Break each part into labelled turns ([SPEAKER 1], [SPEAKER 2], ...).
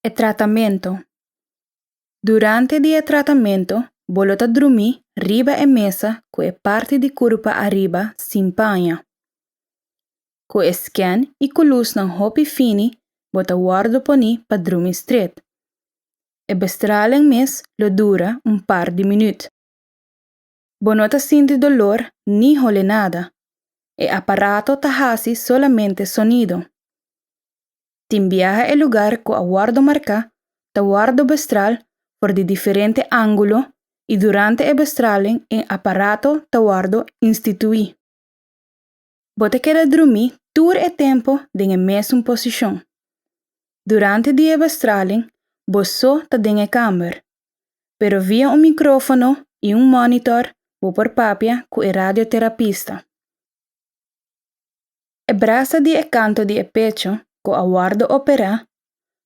[SPEAKER 1] E tratamentu. Durante di e tratamentu, bo lo ta drumí riba e mesa ku e parti di kurpa ariba sin paña. Ku e sken i ku lusnan hopi fini bo ta wòrdu poní pa drumi stret. E bestralen mes lo dura un par di minüt. Bo no ta sinti dolor ni hole nada. E aparato ta hasi solamente sonido. Tin biaha e lugar cu a wordo marca ta wordo bestral for di diferente angulo y durante e bestralen e aparato ta wordo institui. Bo ta keda drumí tur e tempu den e mesun posishon. Durante di e bestraling bo so ta den e kamber, pero via un mikrófono i un mònitor bo por papia ku e radioterapista. E brasa di e kantu di e pecho ku a wòrdu operá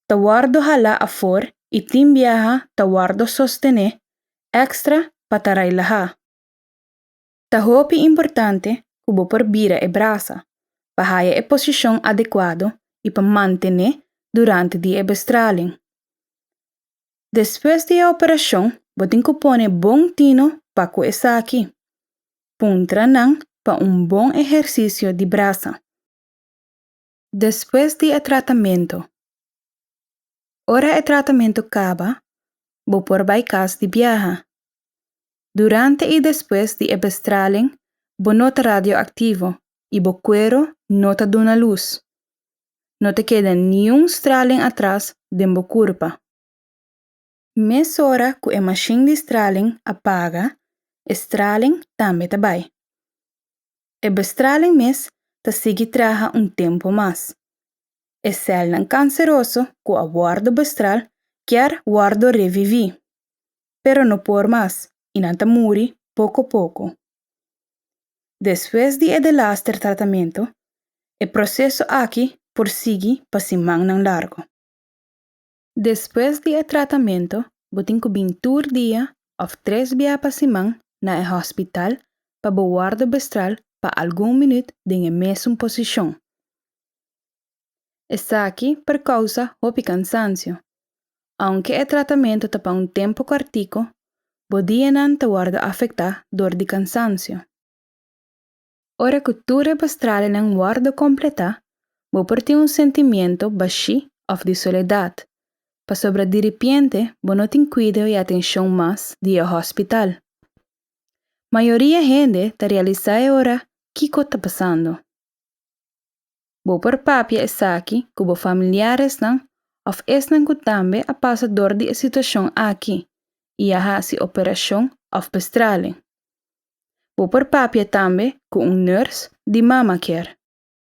[SPEAKER 1] ta wòrdu halá afor i tin biaha ta wòrdu sostené èkstra pa ta railahá. Ta hopi importante ku bo por bira e brasa pa haya e posishon adekuado i pa mantené durante di e bestraling. Despues di e operashon bo tin ku pone bon tino pa ku esaki. Puntranan pa un bon ehersisio di brasa. Despues di e tratamentu. Ora e tratamentu kaba, bo por bai kas di biaha. Durante i despues di e bestraling bo no ta radioaktivo i bo kuero no ta duna lus. No ta keda niun straling atras den bo kurpa. Mesora ku e mashin di straling a paga, e straling tambe ta bai. E bestraling mes ta sigui traha un tempu mas. E sèlnan kanseroso ku a wòrdu bestral kier wòrdu reviví, pero no por mas i nan ta muri poko poko. Despues di e delaster tratamentu, e proseso aki por sigui pa simannan largu. Despues di e tratamentu, bo tin ku bin tur dia òf tres bia pa siman na e hòspital pa bo wòrdu bestral pa algun minüt den e mesun posishon. Esaki por kousa hopi kansansio. Ounke e tratamentu ta pa un tempu kòrtiku, bo dianan ta wòrdu afektá dor di kansansio. Ora ku tur e bastralenan wòrdu kompletá, bo por tin un sentimiento bashí òf di soledat, pasobra diripiente bo no tin kuido i atenshon mas di e hòspital. Mayoria hende ta realisá e ora kiko ta pasando. Bo por papia esaki ku bo familiaresnan òf esnan ku tambe a pasa dor di e situashon aki i a hasi operashon òf bastralen. Bo por papia tambe cu un nurse di mama care.